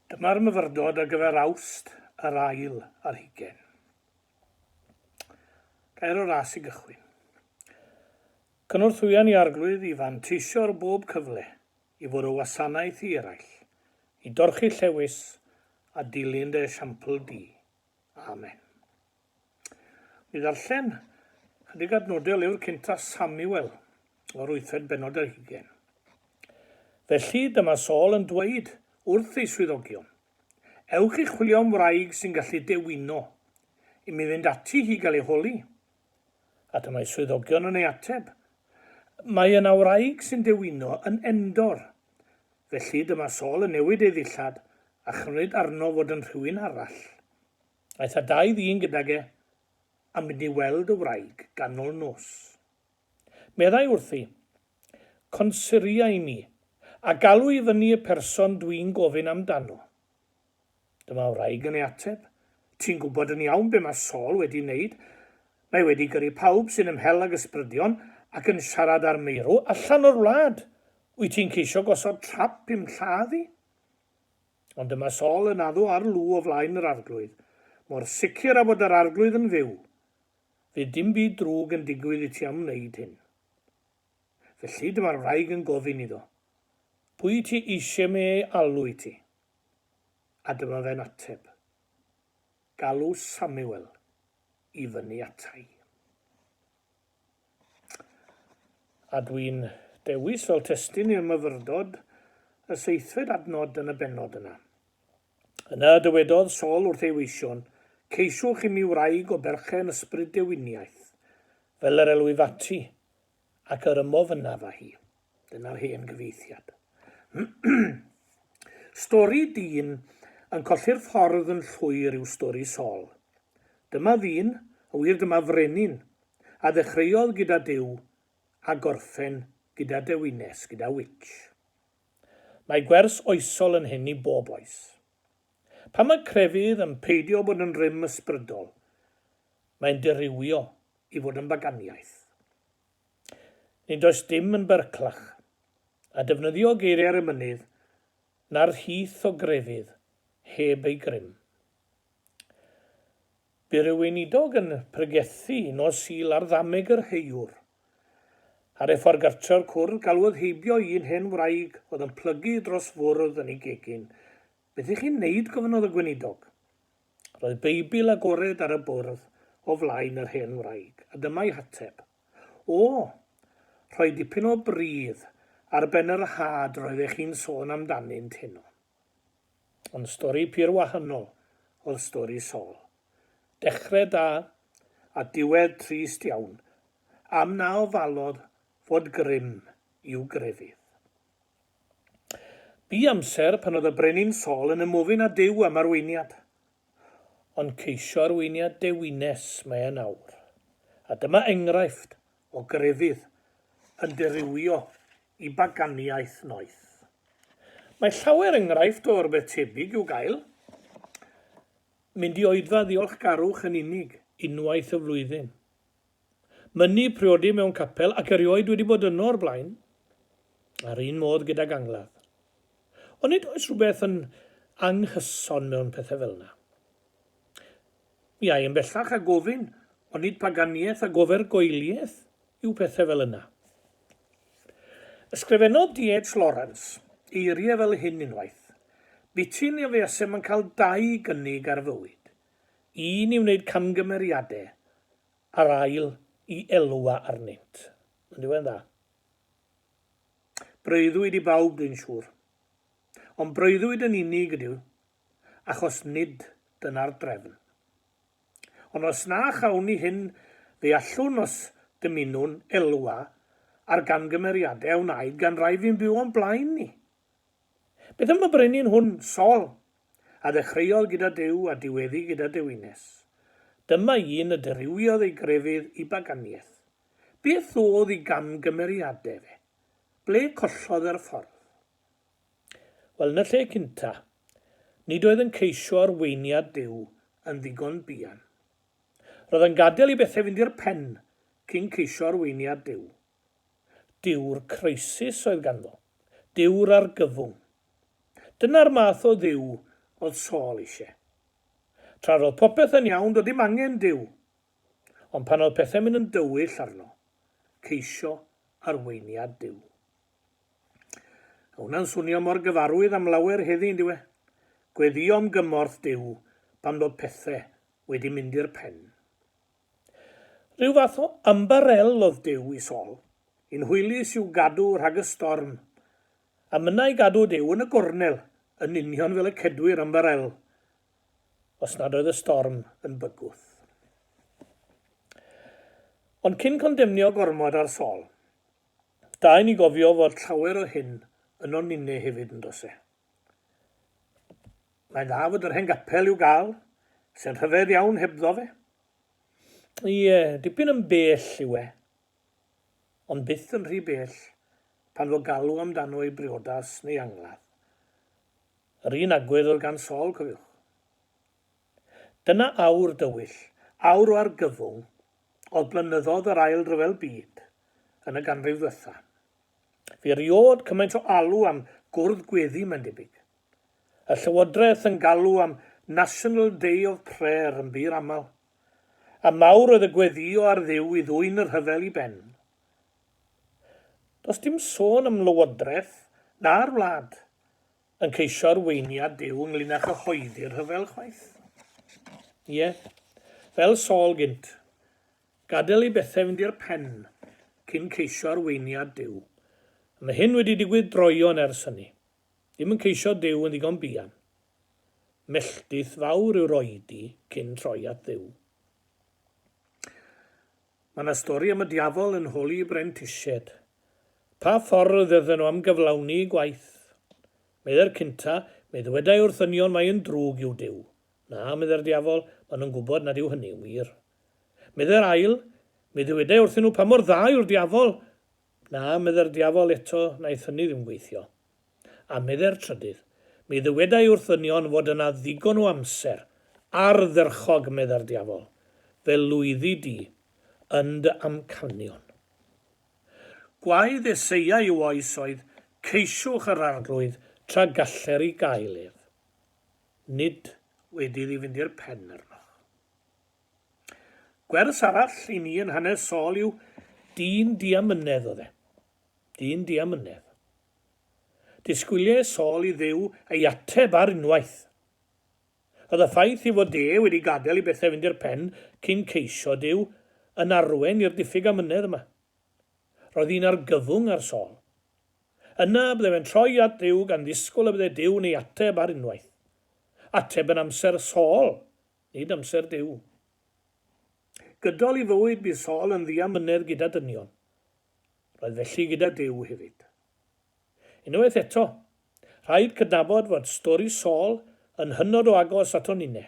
Dyma'r myfyrdod ar gyfer Awst yr ail ar hugain. Gair o ras i gychwyn. Cynorthwyon i Arglwydd i fanteisio ar bob cyfle i fod o wasanaeth i eraill, i dorchi llewys a dilyn dy esiampl di. Amen. I ddarllen chydig adnodau o lyfr cynta Samuel o'r wythfed bennod ar hugain. Felly dyma Saul yn dweud wrth ei swyddogion, Ewch i chwilio am wraig sy'n gallu dewino, i mi fynd ati hi gael ei holi. A dyma'i swyddogion yn ei ateb, Mae yna wraig sy'n dewino yn Endor. Felly dyma Saul yn newid ei ddillad a chymryd arno fod yn rhywun arall. Aeth â dau ddyn gydag e am fynd i weld y wraig ganol nos. Meddai wrthi, Consiria i mi, a galw i fyny y person dwi'n gofyn amdano. Dyma wraig yn ei ateb, Ti'n gwybod yn iawn be mae Saul wedi wneud. Mae wedi gyrru pawb sy'n ymhell ag ysbrydion ac yn siarad â'r meirw allan o'r wlad. Wyt ti'n ceisio gosod trap i'm lladd i? Ond dyma Sol yn addo ar Lw o flaen yr Arglwydd, Mor sicr â fod yr Arglwydd yn fyw, fydd dim byd drwg yn digwydd i ti am wneud hyn. Felly dyma'r wraig yn gofyn iddo, Pwy wyt ti eisiau me ei alw i ti? A dyma fe'n ateb, Galw Samuel i fyny ata i. A dwi'n dewis fel testun i'r myfyrdod y seithfed adnod yn y bennod yna. Yna y dywedodd Saul wrth ei weision, Ceisiwch imi wraig o berchen ysbryd dewiniaeth, fel yr elwif ati, ac yr ymof ynaf â hi. Dyna'r hen gyfeithiad. Stori dyn yn colli'r ffordd yn llwyr yw stori Sol. Dyma ddyn, yn wir dyma frenin, a ddechreuodd gyda Duw a gorffen gyda dewines, gyda witch. Mae gwers oesol yn hyn i bob oes. Pan mae crefydd yn peidio bod yn rym ysbrydol, mae'n dirywio i fod yn baganiaeth. Nid oes dim yn berclach. A defnyddio geiriau'r emynydd na'r rhith o grefydd heb ei grym. Bu rhyw weinidog yn pregethu nos Sul ar ddameg yr heiwr. Ar ei ffordd gartre'r cwrdd galwodd heibio i un hen wraig oedd yn plygu dros fwrdd yn ei gegin. Beth i chi wneud? gofynnodd y gweinidog. Roedd Beibl agored ar y bwrdd o flaen yr hen wraig, a dyma'i hateb. O! Rhoi dipyn o bridd ar ben yr had roeddech chi'n sôn amdanynt heno. Ond stori pur wahanol oedd stori Saul. Dechrau da, a diwedd trist iawn, am na ofalodd fod grym i'w grefydd. Bu amser pan oedd y Brenin Saul yn ymofyn â Duw am arweiniad. Ond ceisio arweiniad dewines mae e'n awr. A dyma enghraifft o grefydd yn dirywio i baganiaeth noeth. Mae llawer enghraifft o rywbeth tebyg i'w gael. Mynd i oedfa ddiolchgarwch yn unig unwaith y flwyddyn. mynnu priodi mewn capel ac erioed wedi bod yno o'r blaen, a'r un modd gydag angladd. Ond nid oes rhywbeth yn anghyson mewn pethau fel yna. Mi ai yn bellach a gofyn, ond nid paganiaeth a gofergoeliaeth yw pethau fel yna. Ysgrifennodd DH. Lawrence eiriau fel hyn unwaith, Bytyn a fuasem yn cael dau gynnig ar fywyd, Un i wneud camgymeriade, a'r ail i elwa arnynt. Ond yw e'n dda? Breuddwyd i bawb dwi'n siŵr. Ond breuddwyd yn unig ydyw, achos nid dyna'r drefn. Ond os na chawn ni hyn fe allwn os dymunwn elwa ar gamgymeriade a wnaed gan rai fu'n byw o'n blaen ni. Beth am y brenin hwn, Saul, a ddechreuodd gyda Duw a diweddu gyda dewines? Dyma un y dirywiodd ei grefydd i baganiaeth. Beth oedd i gamgymeriadau fe? Ble collodd e'r ffordd? Wel, yn y lle cynta, nid oedd yn ceisio arweiniad Duw yn ddigon buan. Roedd yn gadael i bethau fynd i'r pen cyn ceisio arweiniad Duw. Dyw'r crisis oedd ganddo. Dyw'r argyfwng. Dyna'r math o Dduw oedd Saul eisiau. Tra roedd popeth yn iawn, doedd dim angen Duw. Ond pan oedd pethau'n mynd yn dywyll arno, ceisio arweiniad Duw. A hwnna'n swnio mor gyfarwydd am lawer heddi, yn dyw e? Gweddïo am gymorth Duw pan fod pethau wedi mynd i'r pen. Rhyw fath o ymbarel oedd Duw i Saul, un hwylus i'w gadw rhag y storm. A mynna i gadw Duw yn y gornel, yn union fel y cedwir ymbarel, os nad oedd y storm yn bygwth. Ond cyn condemnio gormod ar Saul, da i ni gofio fod llawer o hyn ynon ninne hefyd, yn does e? Mae'n dda fod yr hen gapel i'w gael, sy'n rhyfedd iawn hebddo fe. Ie, dipyn yn bell yw e. Ond byth yn rhy bell pan fo galw amdano ei briodas neu angladd. Yr un agwedd oedd gan Saul, cofiwch. Dyna awr dywyll, awr o argyfwng oedd blynyddoedd yr Ail Ryfel Byd yn y ganrif ddwetha. Fe erioed cymaint o alw am gwrdd gweddi mae'n debyg. Y Llywodraeth yn galw am 'National Day of Prayer' yn bur aml. A mawr oedd y gweddïo ar Dduw i ddwyn y rhyfel i ben. Does dim sôn am Lywodraeth na'r wlad yn ceisio arweiniad Duw ynglŷn â chyhoeddi'r rhyfel chwaith. Ie, fel Saul gynt, Gadael i bethau fynd i'r pen cyn ceisio arweiniad Duw. A mae hyn wedi digwydd droeon ers hynny. Ddim yn ceisio Duw yn ddigon buan. Melltith fawr yw'r oedi cyn troi at Dduw. Mae yna stori am y diafol yn holi brentisied. Pa ffordd oedden nhw am gyflawni gwaith? Meddai'r cynta, Mae dywedai wrth ddynion mai yn drwg yw Duw. Na, meddai'r diafol, maen nhw'n gwybod nad yw hynny'n wir. Meddai'r ail, Mi ddywedai wrthyn nhw pa mor dda yw'r diafol. Na, meddai'r diafol, eto wnaeth hynny ddim gweithio. A meddai'r trydydd, Mi ddywedai wrth ddynion fod yna ddigon o amser, ardderchog, meddai'r diafol, fe lwyddi di yn dy amcanion. Gwaedd Eseia i'w oes oedd, Ceisiwch yr Arglwydd tra galler i gael ef. Nid wedi iddi fynd i'r pen arnoch. Gwers arall i ni yn hanes Saul yw dyn diamynedd oedd e. Dyn diamynedd. Disgwyliau Saul i ddew ei ateb ar unwaith. Oedd y ffaith ei fod e wedi gadael i bethau fynd i'r pen cyn ceisio Dyw yn arwain i'r diffyg amynedd yma. Roedd hi'n argyfwng ar Saul. Yna bydde fe'n troi at Dduw gan ddisgwyl y bydde Duw'n ei ateb ar unwaith. Ateb yn amser Saul, nid amser Duw. Gydol ei fywyd bu Saul yn ddiamynedd gyda dynion. Roedd felly gyda Duw hefyd. Unwaith eto, rhaid cydnabod fod stori Saul yn hynod o agos ato ninne.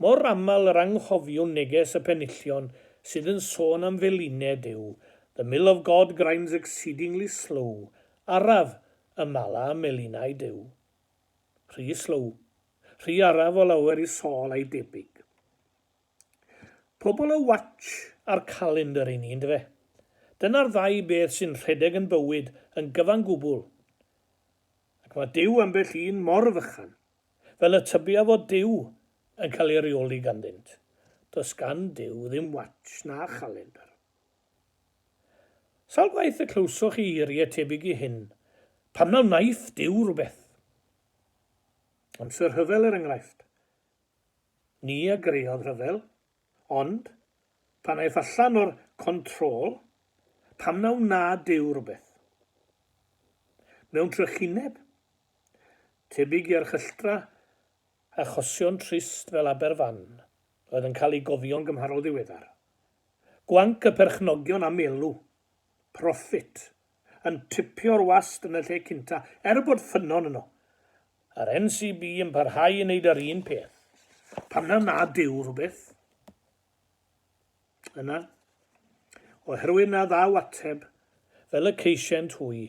Mor aml yr anghofiwn neges y penillion sydd yn sôn am felined yw The mill of God grinds exceedingly slow, araf, y mala ym melinau Duw. Rhy slow, rhy araf o lawer i Saul a'i debyg. Pobl y watch a'r calendr i ni, yn dyfe? Dyna'r ddau beth sy'n rhedeg yn bywyd yn gyfan gwbl. Ac mae Duw ambell un mor fychan. Fel y tybia fod Duw yn cael ei reoli ganddynt, does gan Duw ddim watsh na chalendr. Sawl gwaith y clywsoch chi eiriau tebyg i hyn, Pam na wnaiff Duw rhywbeth? Amser rhyfel er enghraifft. Ni a greodd rhyfel, Ond, pan aeth allan o'r control, pam na wna Duw rywbeth? Mewn trychineb? Tebyg i archylchtra? Achosion trist fel Aberfan oedd yn cael eu gofio'n gymharol ddiweddar. Gwanc y perchnogion am elw Profit, yn tripio'r wast yn y lle cynta, er bod ffynnon yno. Yr NCB yn parhau i wneud yr un peth. Pam na nad yw rhywbeth yna? Oherwydd na ddaw ateb, fel y ceisient hwy.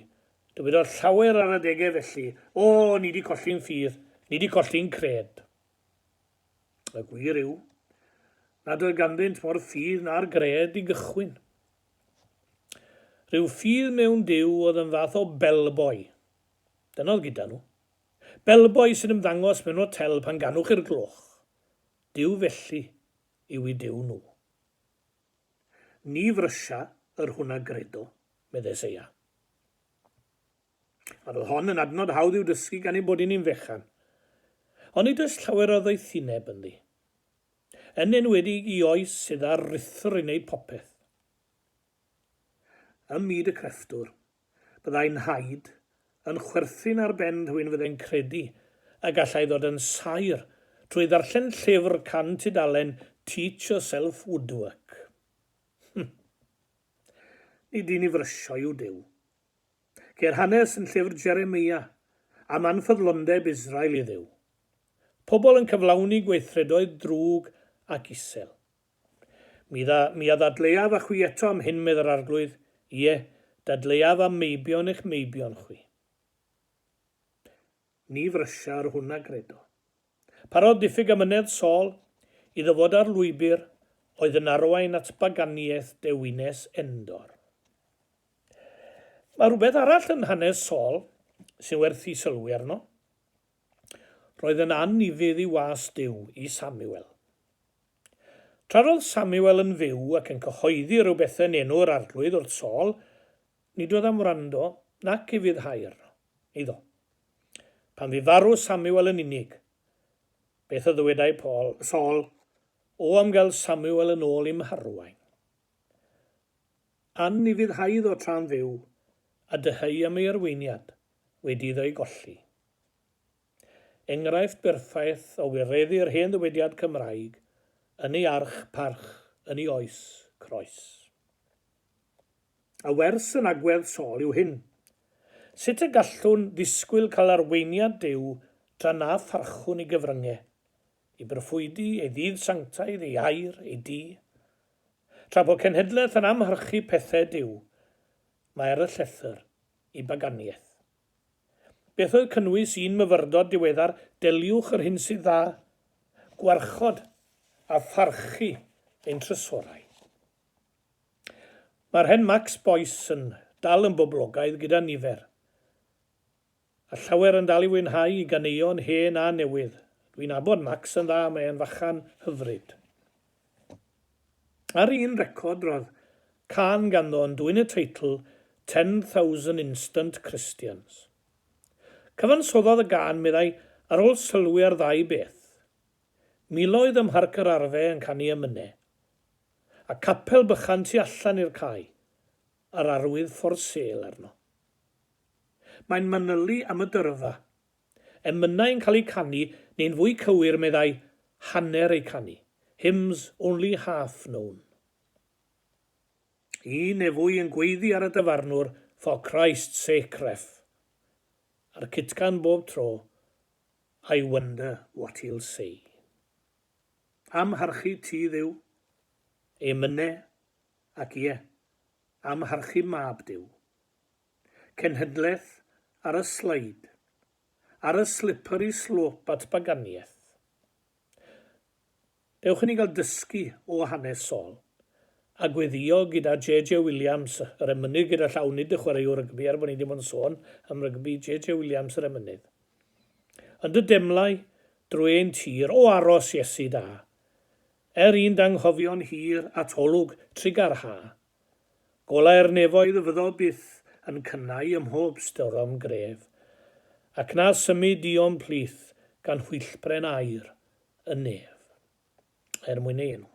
Dywedodd llawer ar adegau felly, O, ni di colli'n ffydd, ni di colli'n cred. Y gwir yw, nad oedd ganddynt mor ffydd na'r gred i gychwyn. Rhyw ffydd mewn Duw oedd yn fath o bellboy. Dyna oedd gyda nhw. Bellboy sy'n ymddangos mewn hotel pan ganwch i'r gloch. Duw felly yw i Duw nhw. Ni frysha yr hwnna gredo, medde Seia. Yr oedd hon yn adnod hawdd i'w dysgu gan ein bod i ni'n fechan. Onid oes llawer o ddoethineb ynddi? Yn enwedig i oes sydd â'r rithwr i wneud popeth. Ym myd y crefftwr, byddai Nhaid yn chwerthin ar ben rhywun fyddai'n credu y gallai ddod yn saer trwy ddarllen llyfr can tudalen Teach Yourself Woodwork. Hm. Nid un i frysio yw Duw. Ceir hanes yn llyfr Jeremia am anffyddlondeb Israel i Dduw. Pobl yn cyflawni gweithredoedd drwg ac isel. Mi, mi a ddadleuaf â chwi eto am hyn, medd yr Arglwydd, ie, dadleuaf am meibion eich meibion chwi. Ni frysia yr hwn a gredo. Parodd diffyg amynedd Saul iddo fod ar lwybr oedd yn arwain at baganiaeth dewines Endor. Mae rhywbeth arall yn hanes Saul sy'n werth i sylwi arno. Roedd yn annufudd i was Duw, i Samuel. Tra roedd Samuel yn fyw ac yn cyhoeddi rhyw bethau'n enw'r arglwydd wrth Saul, Nid oedd am wrando nac ufuddhau'r iddo. Pan fu farw Samuel yn unig, beth a ddywedai Paul, Saul, O am gael Samuel yn ôl i'm harwain. An ufuddhau iddo tra'n fyw, a dyheu am ei arweiniad wedi iddo ei golli. Enghraifft berffaith o wireddu'r hen ddywediad Cymraeg, yn ei arch, parch, yn ei oes, croes. A wers yn agwedd Saul yw hyn. Sut y gallwn ddisgwyl cael arweiniad Duw tra na pharchwn i gyfryngau, i broffwydi, ei ddydd sanctaidd, ei air, ei du? Tra bo cenhedlaeth yn amharchu pethau Duw, mae ar y llethr i baganiaeth. Beth oedd cynnwys un myfyrdod diweddar, Deliwch yr hyn sydd dda, gwarchod a pharchu ein trysorau. Mae'r hen Max Boyce yn dal yn boblogaidd gyda nifer, a llawer yn dal i fwynhau i ganeuon hen a newydd. Dwi'n abod Max yn dda, mae e'n fachan hyfryd. Ar un record roedd cân ganddo yn dwyn y teitl 'Ten Thousand Instant Christians'. Cyfansoddodd y gân, meddai, ar ôl sylwi ar ddau beth. Miloedd ym Mharc yr Arfe yn canu am Myne. A capel bychan tu allan i'r cae, yr arwydd For Sale arno. Mae'n manylu am y dyrfa. Emynau yn cael eu canu, neu'n fwy cywir, meddai, hanner eu canu, hymns only half known. Un neu fwy yn gweiddi ar y dyfarnwr, For Christ's sake, Ref. A'r cytgan bob tro, I wonder what he'll say. Amharchu ti Dduw. Emyne, ac ie, amharchu Mab Duw. Cenhedlaeth ar y sleid. Ar y slippery slope at baganiaeth. Dewch i ni gael dysgu o hanes Saul, a gweddio gyda JJ Williams, yr emynydd gyda llaw nid y chwaraewr rygbi, er bod ni 'di bod yn sôn am rygbi, JJ Williams yr emynydd. Yn dy demlau drwy ein tir, o aros, Iesu da, Er i'n danghofio'n hir at olwg trugar ha. Golau'r nefoedd fyddo byth yn cynnau ym mhob storom gref, Ac na symud di o'm plith gan hwylltbren aur y nef. Er mwyn ei enw.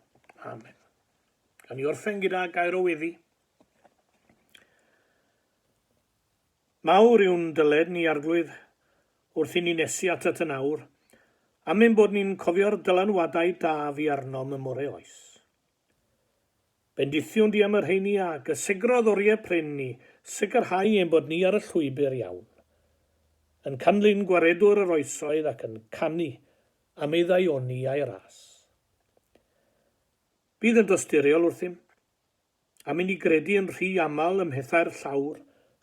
Amen. Gan i orffen gyda gair o weddi. Mawr yw'n dyled ni Arglwydd, wrth i ni nesu atat yn awr, am ein bod ni'n cofio'r dylanwadau da fu arnom ym more oes. Bendithiwn di am y rheini a gysegrodd oriau prin ni, sicrhau ein bod ni ar y llwybr iawn, yn canlyn Gwaredwr yr oesoedd ac yn canu am ei ddaioni a'i ras. Bydd yn dosturiol wrthym. am i ni gredu yn rhy aml ym mhethau'r llawr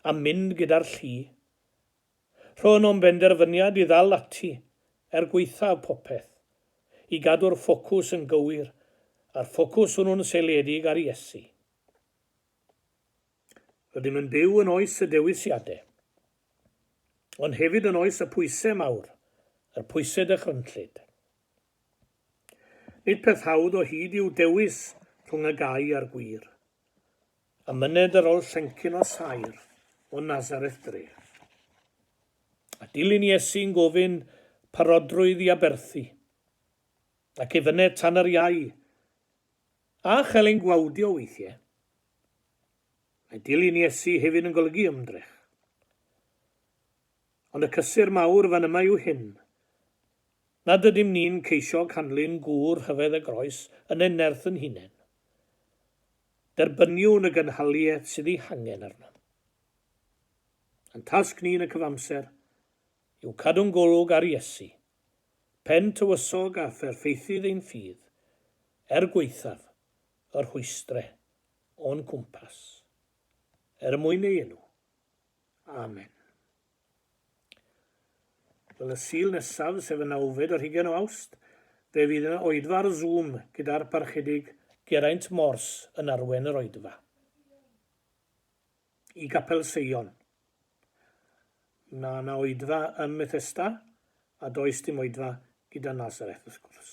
a mynd gyda'r llu. Rhoon o'm benderfyniad i ddal ati, er gwaethaf popeth, i gadw'r ffocws yn gywir, a'r ffocws hwnnw'n seiliedig ar Iesu. Rydym yn byw yn oes y dewisiadau, ond hefyd yn oes y pwysau mawr, yr pwysau dychrynllyd. Nid peth hawdd o hyd yw dewis rhwng y gau a'r gwir. Y myned yr ol llencyn o saer o Nazareth dre. A dilyn Iesu'n gofyn parodrwydd i aberthu. Ac ei fyned tan yr iau. A chael ein gwawdio weithie. Mae dilyn Iesu hefyd yn golygu ymdrech. Ond y cysur mawr fan yma yw hyn, Nad ydym ni'n ceisio canlyn gŵr rhyfedd a groes yn ein nerth yn hunain. Derbyniwn y gynhaliaeth sydd ei hangen arnom. Ein tasg ni yn y cyfamser yw cadw'n golwg ar Iesu, Pen Tywysog a Pherffeithydd ein ffydd, er gwaethaf y rhwystre o'n cwmpas. Er mwyn ei enw. Amen. Fel y Sul nesaf, sef y nawfed ar hugain o Awst, fe fydd yna oedfa ar Zoom gyda'r Parchedig, Geraint Mors yn arwain yr oedfa i Gapel Seion. Mae yna oedfa ym Methesda a does dim oedfa gyda Nazareth wrth gwrs.